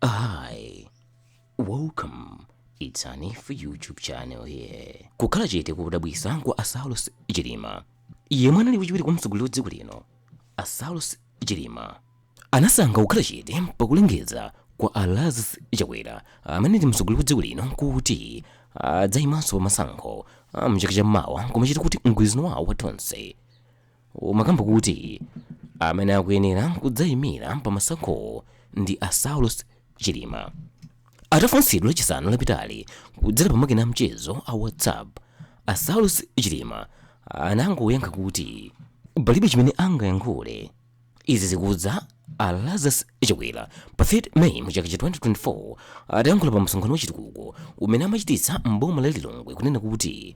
Hi, welcome. It's Anif YouTube channel here. Kukhala chete kodabwisa kwa a Saulos Chilima. Yemwe anali wachiwiri kwa mtsogoleri wa dziko lino, a Saulos Chilima anasankha kukhala chete pakulengeza kwa a Lazarus Chakwera amene ndi mtsogoleri wa dziko lino kuti adzaimanso pa masankho a mchaka cha mawa koma chikhala kuti mgwirizano wawo wa Tonse umakamba kuti amene akuyenera kudzayimira pa masankhowo ndi a saulos chilima atafunsidwa lachisanu lapitali kudzera pa makina amchezo a whatsapp a saulos chilima anangoyankha kuti palibe chimene angayankhule izi zikudza a lazarus chakwera pa 3 may mu chaka cha 2024 atayankhula pa msonkhano wachitukuko umene amachititsa mboma la lilongwe kunena kuti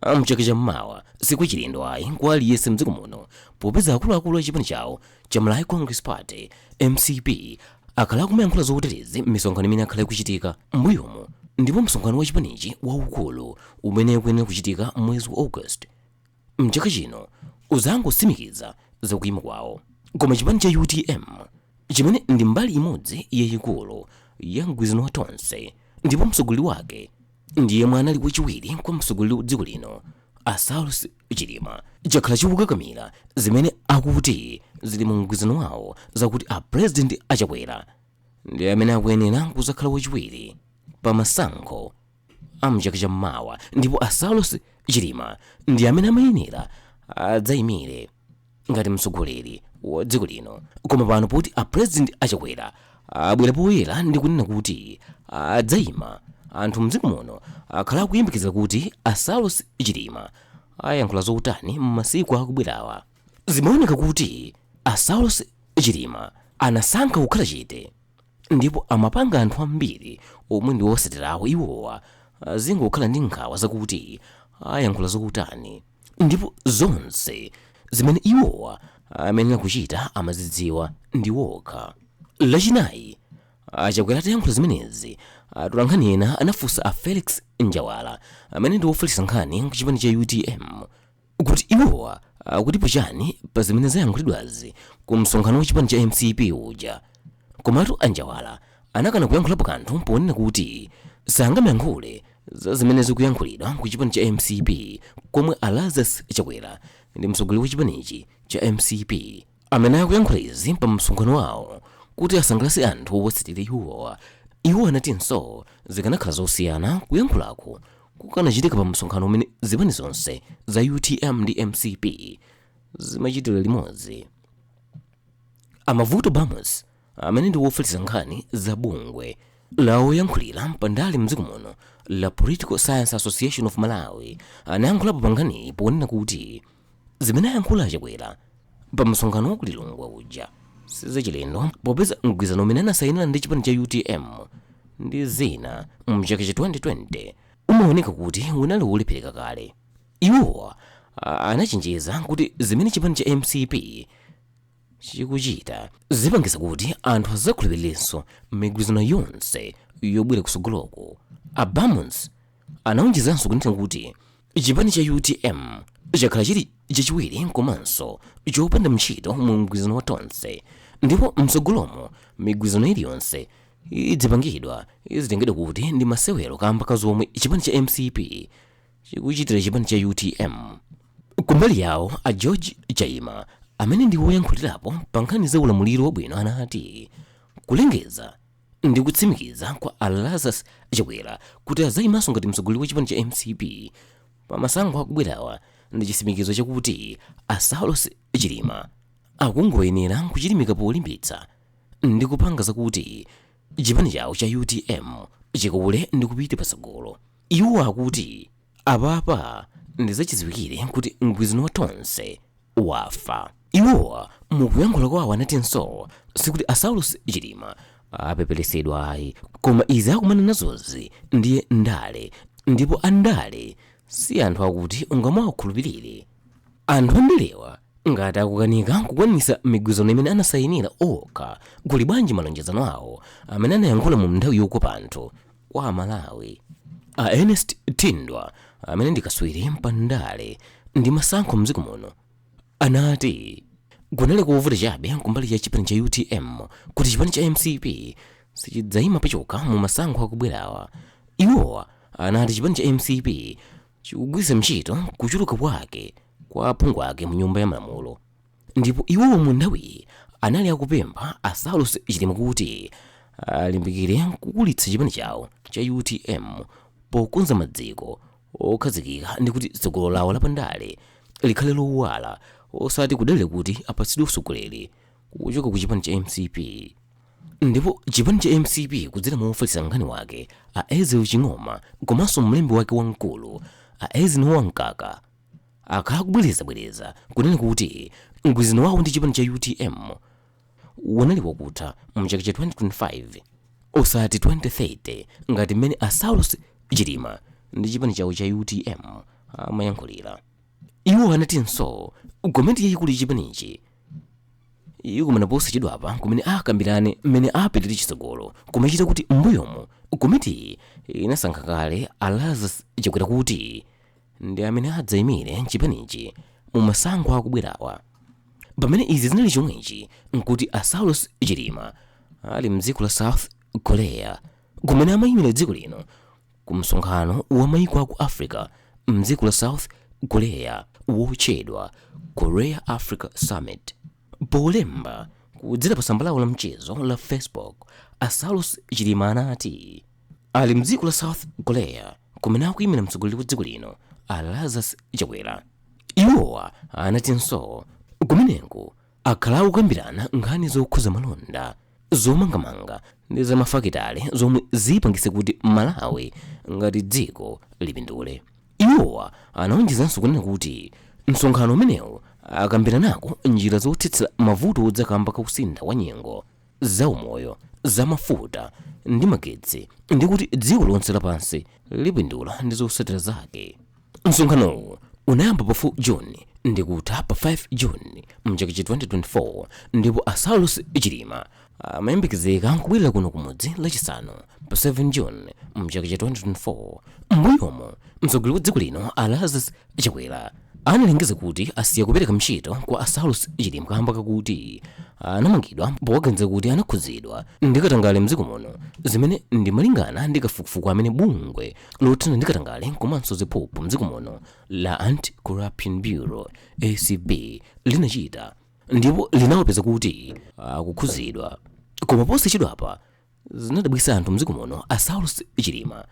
amchaka cha mmawa sikuchilendo ayi kwa aliyense mdziko muno popeza akuluakulu a chipani chawo cha malawi congress party mcp akhala akumayankhula zoterezi m'misonkhano imene yakhala ikuchitika m'mbuyomu ndipo msonkhano wa chipanichi waukulu umene ukuyenera kuchitika mwezi wa august mchaka chino uzangosimikiza zakuyima kwawo koma chipani cha utm chimene ndi mbali imodzi yayikulu ya mgwirizano wa tonse ndipo mtsogoleri wake ndi yemwe anali wachiwiri kwa mtsogoleri wa dziko lino a Saulos Chilima chakhala chikukakamira zimene akuti zili mu mgwirizano wawo zakuti a president a Chakwera ndi amene akuyenera kuzakhala wachiwiri pa masankho a mchaka cha mmawa ndipo a Saulos Chilima ndi amene amayenera adzayimire ngati mtsogoleri wa dziko lino koma pano poti a president a chakwera abwera poyera ndi kunena kuti adzayima anthu mdziko muno akhala akuyembekezera kuti a saulos chilima ayankhula zotani m'masiku akubwerawa zimaoneka kuti a saulos chilima anasankha kukhala chete ndipo amapanga anthu ambiri omwe ndi owasatira iwowa azingokhala ndi nkhawa zakuti ayankhula zotani ndipo zonse zimene iwowa amayenera kuchita amazidziwa ndi iwo okha lachinayi a chakwera atayankhula zimenezi atolankhani ena anafunsa a felix njawala amene ndi wofalitsa nkhani kuchipani cha utm kuti iwowa akutipo chani pa zimene zayankhulidwazi ku msonkhano wa chipani cha mcp uja komatu a njawala anakana kuyankhulapo kanthu ponena kuti sangamayankhule za zimene zikuyankhulidwa ku chipani cha mcp komwe a lazarus chakwera ndi mtsogoleri wa chipanichi cha mcp amene akuyankhula izi pa msonkhano wawo kuti asangalatse anthu owatsatira iwowa iwo anatinso zikanakhala zosiyana kuyankhulako kukanachitika pa msonkhano umene zipani zonse za utm ndi mcp zimachitira limodzi a mavuto bamus amene ndi wofalitsa nkhani za bungwe la oyankhulira pandale mdziko muno la political science association of malawi anayankhulapo pa nkhaniyi ponena kuti zimene ayankhula a chakwera pa msonkhano wa ku lilongwe uja sizachilendo popeza mgwirizano umene anasayinira ndi chipani cha utm ndi zina mchaka cha 2020 umaoneka kuti unali wolephereka kale iwowa anachenjeza kuti zimene chipani cha mcp chikuchita zipangitsa kuti anthu azakhulupirirenso migwirizano yonse yobwera kusogoloko a Bamusi anaonjezanso kunena kuti chipani cha utm chakhala chili chachiwiri komanso chopanda mtchito mu mgwirizano wa tonse ndipo mtsogolomo migwirizano iliyonse idzipangidwa izitengedwa kuti ndi masewero kamba ka zomwe chipani cha mcp chikuchitira chipani cha utm kumbali yawo a george chaima amene ndi woyankhulirapo pa nkhani za ulamuliro wabwino anati kulengeza ndi kutsimikiza kwa a lazarus chakwera kuti azayimanso ngati mtsogoleri wa chipani cha mcp pa masankho akubwerawa ndi chitsimikizo chakuti a saulos chilima akungoyenera kuchilimika polimbitsa ndi kupanga zakuti chipani chawo cha utm chikule ndi kupita patsogolo Iwo akuti apapa ndizachidziwikire kuti mgwirizano wa Tonse wafa. Iwowa mukuyankhula kwawo anatinso sikuti a Saulos Chilima apepelesedwa ayi koma izi akumana nazozi ndiye ndale ndipo a ndale si anthu akuti ungamawakhulupilire. Anthu andalewa ngati akukanika kukwanisa migwirizano imene anasayinira okha kuli bwanji malonjezano awo amene anayankhula mu mnthawi yokopa anthu kwa a malawi a ernest thindwa amene ndi kaswiri mpandale ndi masankho mdziko muno anati kunali kovuta chabe kumbali cha chipani cha utm kuti chipani cha mcp sichidzayima pachokha mu masankho akubwerawa iwowa anati chipani cha mcp chikugwiritsa ntchito kuchuluka kwake kwa aphungu ake mu nyumba ya malamulo ndipo iwowo mu nthawiyi anali akupempha a saulos chilima kuti alimbikire kukulitsa chipani chawo cha utm pokonza maziko okhazikika ndi kuti tsogolo lawo lapandale likhale lowala osati kudalira kuti apatsidwe usogoleri kuchoka ku chipani cha mcp ndipo chipani cha mcp kudzera mwa ofalitsa nkhani wake a ezekiel ching'oma komanso mlembi wake wamkulu a eisenhower mkaka akhala akubwerezabwereza kunena kuti mgwirizano wawo ndi chipani cha utm unali wakutha mu chaka cha 2025 osati 2030 ngati mmene a saulos chilima ndi chipani chawo cha utm amayankhulira iwo anatinso komiti yayikulu ya chipanichi ikumana posachedwapa kumene akambirane mmene apitire chitsogolo kumachita kuti m'mbuyomu komitiyi inasankha kale a lazarus chakwera kuti ndi amene adzaimire chipanichi mu masankho akubwerawa. Pamene izi zinali chomwechi, nkuti a Saulos Chilima ali m'dziko la South Korea kumene amaimira dziko lino ku msonkhano wa maiko aku Africa m'dziko la South Korea wotchedwa Korea Africa Summit. Polemba kudzera pa tsamba lawo la mchezo la Facebook, a Saulos Chilima anati, Ali mdziko la South Korea kumene akuyimira mtsogoleri wa dziko lino a Lazarus Chakwera. Iwowa anatinso kumeneko akhala akukambirana nkhani zokhuza malonda zomangamanga ndi za mafakitale zomwe zipangitse kuti Malawi ngati dziko lipindule. Iwowa anaonjezanso kunena kuti msonkhano umenewu akambiranako njira zothetsera mavuto odza kamba ka kusintha kwa nyengo zaumoyo, zamafuta, ndi magetsi ndi kuti dziko lonse lapansi lipindula ndi zotsatira zake. Msonkhanowu unayamba pa 4 June ndi kutha pa 5 June mchaka cha 2024 ndipo a Saulos Chilima amayembekezeka kubwerera kuno kumudzi Lachisanu pa 7 june mchaka cha 2024 m'mbuyomo mtsogoleri wa dziko lino a lazarus chakwera analengeza kuti asiya kupereka ntchito kwa a saulos chilima kamba kakuti anamangidwa powaganizira kuti anakhudzidwa ndi katangale mdziko muno zimene ndi malingana ndi kafukufuku amene bungwe lothana ndi katangale komanso ziphuphu mdziko muno la anti corruption bureau acb linachita ndipo linawapeza kuti akukhudzidwa koma posachedwapa zinadabwitsa anthu mdziko muno a saulos chilima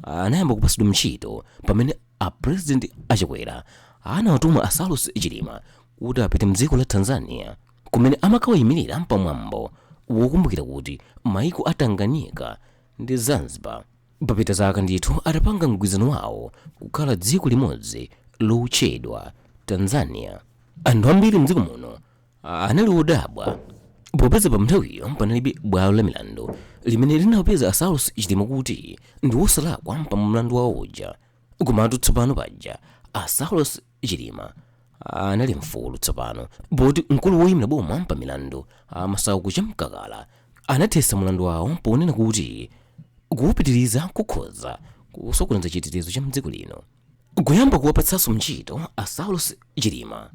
anayamba kupatsidwa ntchito pamene a president a chakwera anawatuma a saulos chilima kuti apite mdziko la tanzania kumene amakawayimirira pamwambo wokumbukira kuti maiko a tanganyika ndi zanzibar papita zaka ndithu atapanga mgwirizano wawo kukhala dziko limodzi lotchedwa tanzania anthu ambiri mdziko muno anali odabwa popeza pa nthawiyo panalibe bwalo la milandu limene linawapeza a saulos chilima kuti ndi wosalakwa pa mlandu wawo uja komatu tsopano paja a saulos chilima anali mfulu tsopano poti mkulu woyimira boma pa milandu a masauko chamkakala anathetsa mlandu wawo ponena kuti kuwupitiriza kukhoza kusokoneza chitetezo cha mdziko lino kuyamba kuwapatsanso ntchito a saulos chilima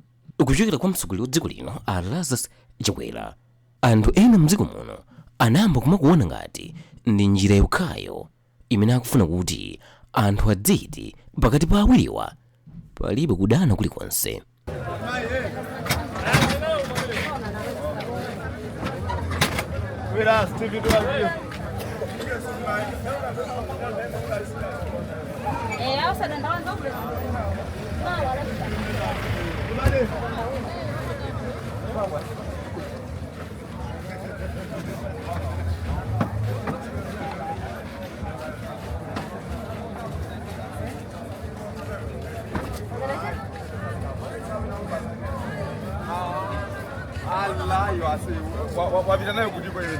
kuchokera kwa mtsogoleri wa dziko lino a lazarus chakwera anthu ena mdziko muno anayamba kumakuona ngati ndi njira yokhayo imene akufuna kuti anthu adziti pakati pa awiriwa palibe kudana kulikonse Eh, hao sadanda wangu alayo ase wapita nayo kuti kwele